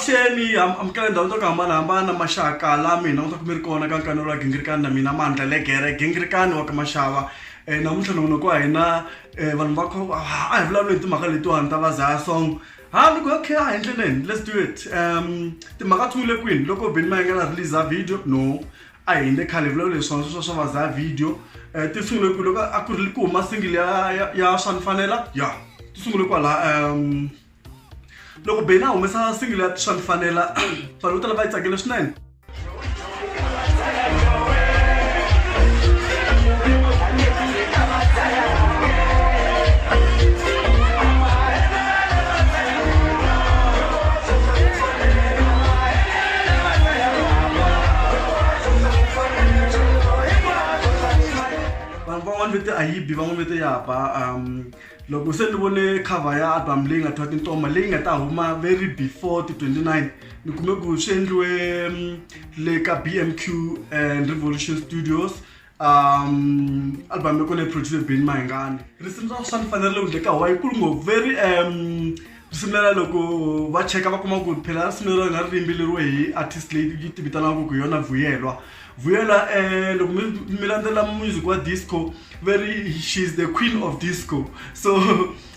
avuxeni amukela ndhawu to ku hambanahambana maxaka la mina u ta kumi ri kona ka nkanelo wa gingirikani na mina mandla legere gingirikani wa ka maxava um namuntlha nongono ku wa hina um vanhu va kho a hi vulavula hi timhaka letiwani ta vazaya song ha loko ya khe a hi ndleleni let's do it um timhaka tshungule kwini loko beni ma yingela release a video no a hi le khale vulavula leswiwa sweswo swa vaza video um ti sungule ku loko a ku ri ku huma singile ya ya swa ni fanela ya ti sungule kwalaha um loko beni a humesa singile ya swa ni fanela vanhu vo tala va yi tsakele swinene vanhu van'wana vete a yi bi van'wana vete ya ba um loko se ni vone cover ya album leyi nga twa tintoma leyi nga ta huma very before ti 29 ni kume ku swi endliwe um, le ka bmq and revolution studios um album yoko leyi producer ben mayingani risimu ra swa ni fanerile ku ndleka wa yikulu ngo very um risimu lela loko va cheka va kuma ku phela risimu lero nga ri yimbeleriwe hi artist leyi yi tivitanaka ku yona vuyelwa vuyelwa um loko mi landzela music wa disco very she is the queen of disco so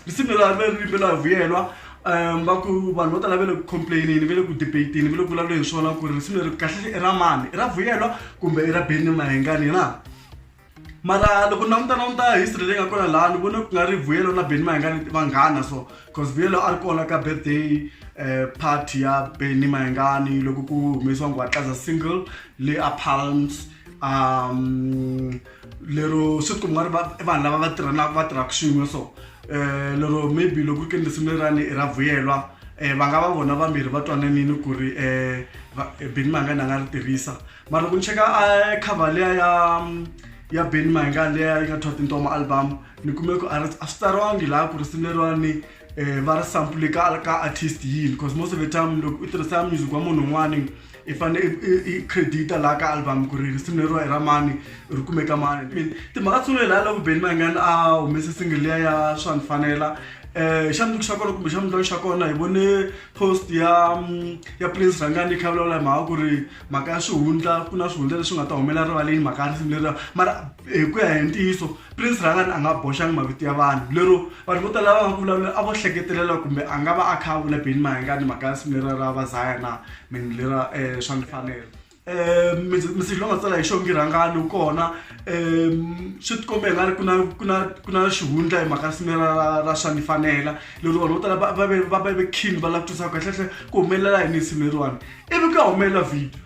risimu leri a ri ri yimbela hi vuyelwa um va ku vanhu vo tala va le ku complainini va le ku debatini va le ku vulavuleni hi swona ku ri risimu leri kahlekahle i ra mani i ra vuyelwa kumbe i ra beni mahengani na mara loko na mutana muta history leyi nga kona laha ni vone ku nga ri vuyelo na beni mayengani vanghana so cause vuyelo a ri kona ka birthday um party ya beni mayengani loko ku humesiwa ngwatlaza single le a palms um lero swi ku nga ri vanhu lava va tirhanaka va tirhaka swin'we so um lero maybe loko ri ke ni risimu lerani i ra vuyelwa um va nga va vona vambirhi va twananini ku ri um beny mahingani a nga ri tirhisa mara loko ni cheka a cover leya ya ya beny mahingani leya yi nga thwa tintoma album ni kume ku a swi tsariwangi laha ku risimu leriwani um va ri sampule ka ka artist yini because most of the time loko u tirhisa music wa munhu un'wani i fanele i credita laha ka album ku ri risimu leriwa i ra mani ri kumeka mani i mean timhaka tsungule laha loko beni mayingani a humese single liya ya swa ni fanela um xa mundzuku xa kona kumbe xa mundlwani xa kona hi vone post ya mm, ya prince rhangani kha vulavula hi mhaka ku ri mhaka ya swihundla ku na swihundla leswi nga ta humelela rivaleni mhaka ya risimu leriwa mara hi ku ya hi ntiyiso prince rhangani a nga boxangi mavito ya vanhu lero Vanhu vo tala lava va ku vulavula a vo hleketelela kumbe a nga va a kha a vula Benny Mayengani mhaka ya nsimu lera ra vazaya na meaning lera um swa ni fanela um message lowu nga tsala hi xo ngi rhangani wu kona um swi ti kombe hi nga ri ku na ku na ku na xihundla hi mhaka nsimu lera ra ra swa ni fanela lero vanhu vo tala va va ve va va ve keen va lava ku twisisa kahlekahle ku humelela yini nsimu leriwani ivi ku ya humelela video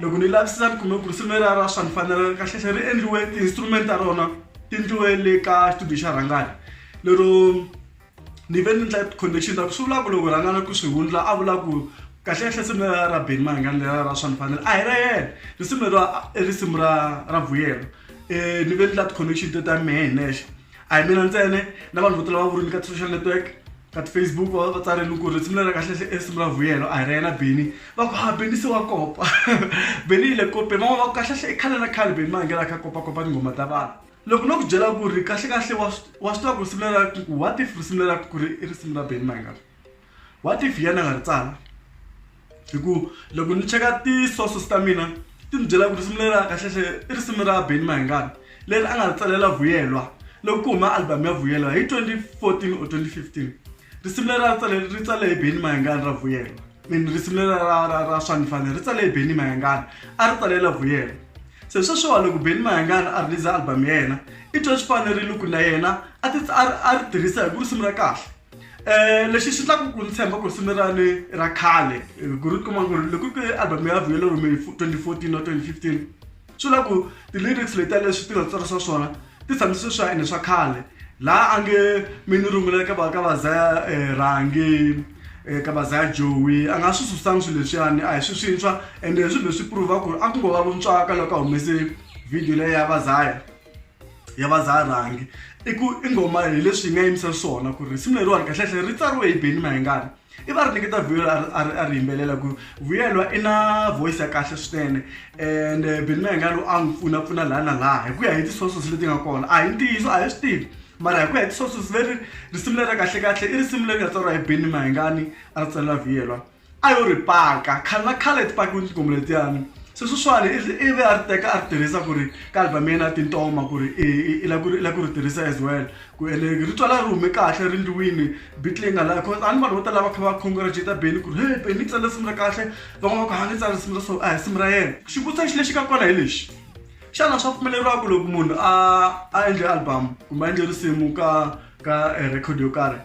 loko ni lavisisa ni kume ku ri simu ra ra swa ni fanela kahlehla ri endliwe ti-instrument ta rona ti ndliwe le ka studio xa rhangani lero ni ve ni ndla connection ta ku swi vula ku loko rhangana ku swi hundla a vula ku kahlekahle simu ra ra beni mahingani lera ra swa ni fanela a hi ra yena risimu leriwa i risimu ra ra vuyelo um ni ve ni ndla ti-connection te ta mehe hi nexe a hi mina ntsena na vanhu vo tala va vurini ka ti-social network ka ti-facebook va va tsarile ku ri risimu leri kahlele e risimu ra vuyelo a hi ra yena beni va ku ha beni se wa kopa beni yi le kopeni van'wana va ku kahlekahle i khale na khale beni ma ngela kha kopakopa tinghoma ta vanhu loko no ku byela ku ri kahlekahle wa wa swi tiva ku risimu leri ra ku what if risimu leri ra ku ri i risimu ra beni ma nga what if yena nga ri tsala hi ku loko ni cheka ti-sources ta mina ti ni byela ku risimu leri ra kahlehle i risimu ra beni mahingani leri a nga ri tsalela vuyelwa loko ku huma album ya vuyelwa hi 2014 or 2015 risimu leri ra ri tsale ri tsale hi beni mahingani ra vuyelwa mini risimu leri ra ra ra swa ni fanele ri tsale hi beni mahingani a ri tsalela vuyelwa se sweswiwa loko beni mahingani a release album ya yena i twa swi fanerile ku na yena a ti a ri tirhisa hi ku risimu ra kahle um lexi xi tlakuku ni tshemba ku risimu ra ni ra khale ku ri kuma ku ri loko ku album ya vuyelo rume hi 2014 na 2015 swi vula ku ti-lyrics letiya leswi ti nga tsarisa swona ti tshame swi swa ene swa khale laha a nge mi ni rungula ka va ka vazaya um rhangi um ka vazaya jowi a nga swi susangi swilo leswiyani a hi swi swintshwa ende hi swilo leswi prove-a ku ri a ku ngo va vuntswaka loko a humese video leyi ya vazaya ya vazarhangi i ku i nghoma hi leswi yi nga yimisa swona ku ri simu leriwani kahlekahle ri tsariwe hi beni mahengani i va ri nyiketa vuyelo a ri yimbelela ku vuyelwa i na voice ya kahle swinene and eh, beni mahengani a n'wi pfuna pfuna laha na laha hi ku ya hi ti-sources leti nga kona a hi ntiyiso a hi swi tivi mara hi ku ya hi ti-sources leri risimu leri kahlekahle i risimu leri nga tsariwa hi beni mahengani a ri tsalela vuyelwa a yo ri paka khale na khale ti pakiwile tinghoma letiyani se sweswiwani i ve a ri teka a ri tirhisa ku ri ka album ya yena ya tintoma ku ri i la ku ri i la ku ri tirhisa as well ku ene rito la ri hume kahle ri ndliwini beat leyi nga la cause a ni vanhu vo tala va kha va congratulate beni ku ri he beni tsale risimu ra kahle van'wana va ku ha ni tsale risimu ra so a hi risimu ra yena xivutiso xi lexi ka kona hi lexi xana swa pfumeleriwa ku loko munhu a a endle album kumbe a endle risimu ka ka eh, record yo karhi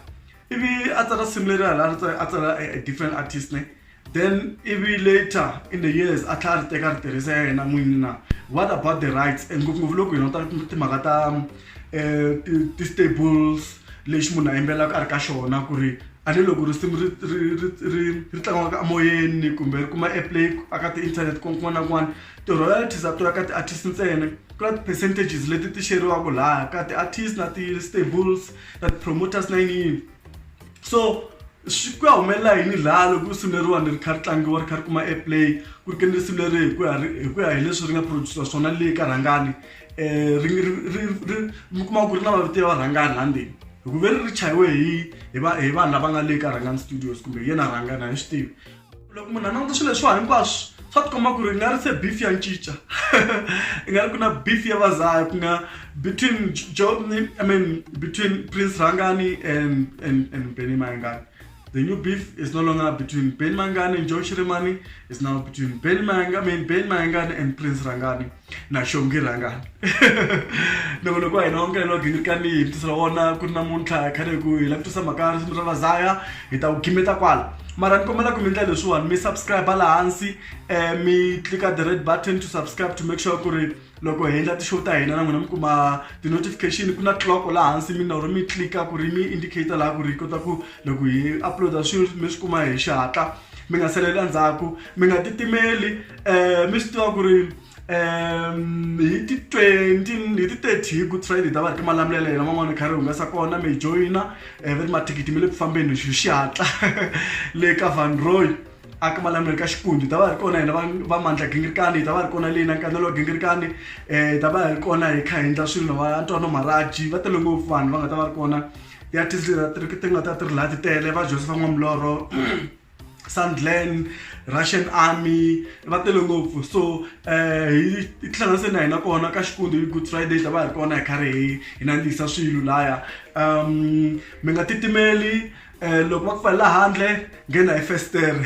ivi a tsala simu leri hala a tsala a different artist ne then ivi later in the years a tlhela a ri teka ri tirhisa ya yena n'wini na what about the rights and ngopfungopfu loko hina ta timhaka ta um ti-stables lexi munhu a yimbelelaka a ri ka xona ku ri a ni loko risimu ri ri ri ri ri tlangiwaka emoyeni kumbe ri kuma airplay a ka ti-internet kun'wana na kun'wana ti-royalties a to ya ka ti-artist ntsena ku na ti-percentages leti ti xeriwaka laha ka ti-artist na ti-stables na ti-promoters na yini yini so swi ku ya humelela hi ni laha loko risimu leriwani ri kha ri tlangiwa ri kha ri kuma airplay ku ri ke ni risimu leri hi ku ya hi ku ya hi leswi ri nga producer swona le ka rhangani um ri ri ri ri mi kuma ku ri na mavito ya varhangani la ndzeni hikuva ri ri chayiwe hi hi va hi vanhu lava nga le ka rhangani studios kumbe hi yena rhangani a hi swi tivi loko munhu a languta swilo leswiwa hinkwaswo swa tikomba ku ri i nga ri se beef ya ncinca i nga ri ku na beef ya vazaya ku nga between job ni i mean between prince rhangani and and and benny mayangani the new beef is no longer between benny mayangani and joe shirimani is now between benny mayangani, I mean, benny mayangani and prince rhangani na xongi rhangani loko loko wa hina wa mukele wa gingirikani hi vutisa ra wona ku ri namuntlha khale ku hi la ku tisa mhaka risimu ra vazaya hi ta ku khimeta kwala mara ni kombela ku mi ndlela leswiwani mi subscribe la hansi um mi clika the red button to subscribe to make sure ku ri loko hi endla ti-show ta hina na n'wina mi kuma ti-notification ku na clock la hansi mi naro mi clika ku ri mi indicator laha ku ri hi kota ku loko hi uploada swilo mi swi kuma hi xihatla mi nga saleli endzhaku mi nga titimeli um mi swi tiva ku ri um hi ti twenty hi ti thirty hi good friday ta va ri ka malamulelo yena van'wana kha ri humesa kona mi joyina um eh, va ri mathikithi mi le ku fambeni hi xihatla le ka van roy a ka malamulelo ka xikundi ta va ri kona hina va mandla gingirikani hi ta va ri kona leyi na nkanelo wa gingirikani um hi ta va hi ri kona hi kha hi endla swilo na va antwano maraji va tele ngopfu vanhu va nga ta va ri kona ya tindzira ti ri ti nga ta ti ri laha ti tele va josepha n'wamulorho sandland russian army va tele ngopfu so um hi tihlanganise na hina kona ka xikundi hi good friday ta va hi ri kona hi karhi hi hi nandzihisa swilo laya um mi nga titimeli um loko va ku pfalela handle nghena hi festere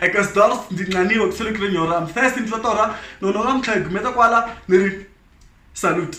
eka stors ndzi nqaniwe ku sele ku ri nyora mfest ndzi ta torha nono namuntlha hi gumeta kwala ni ri salute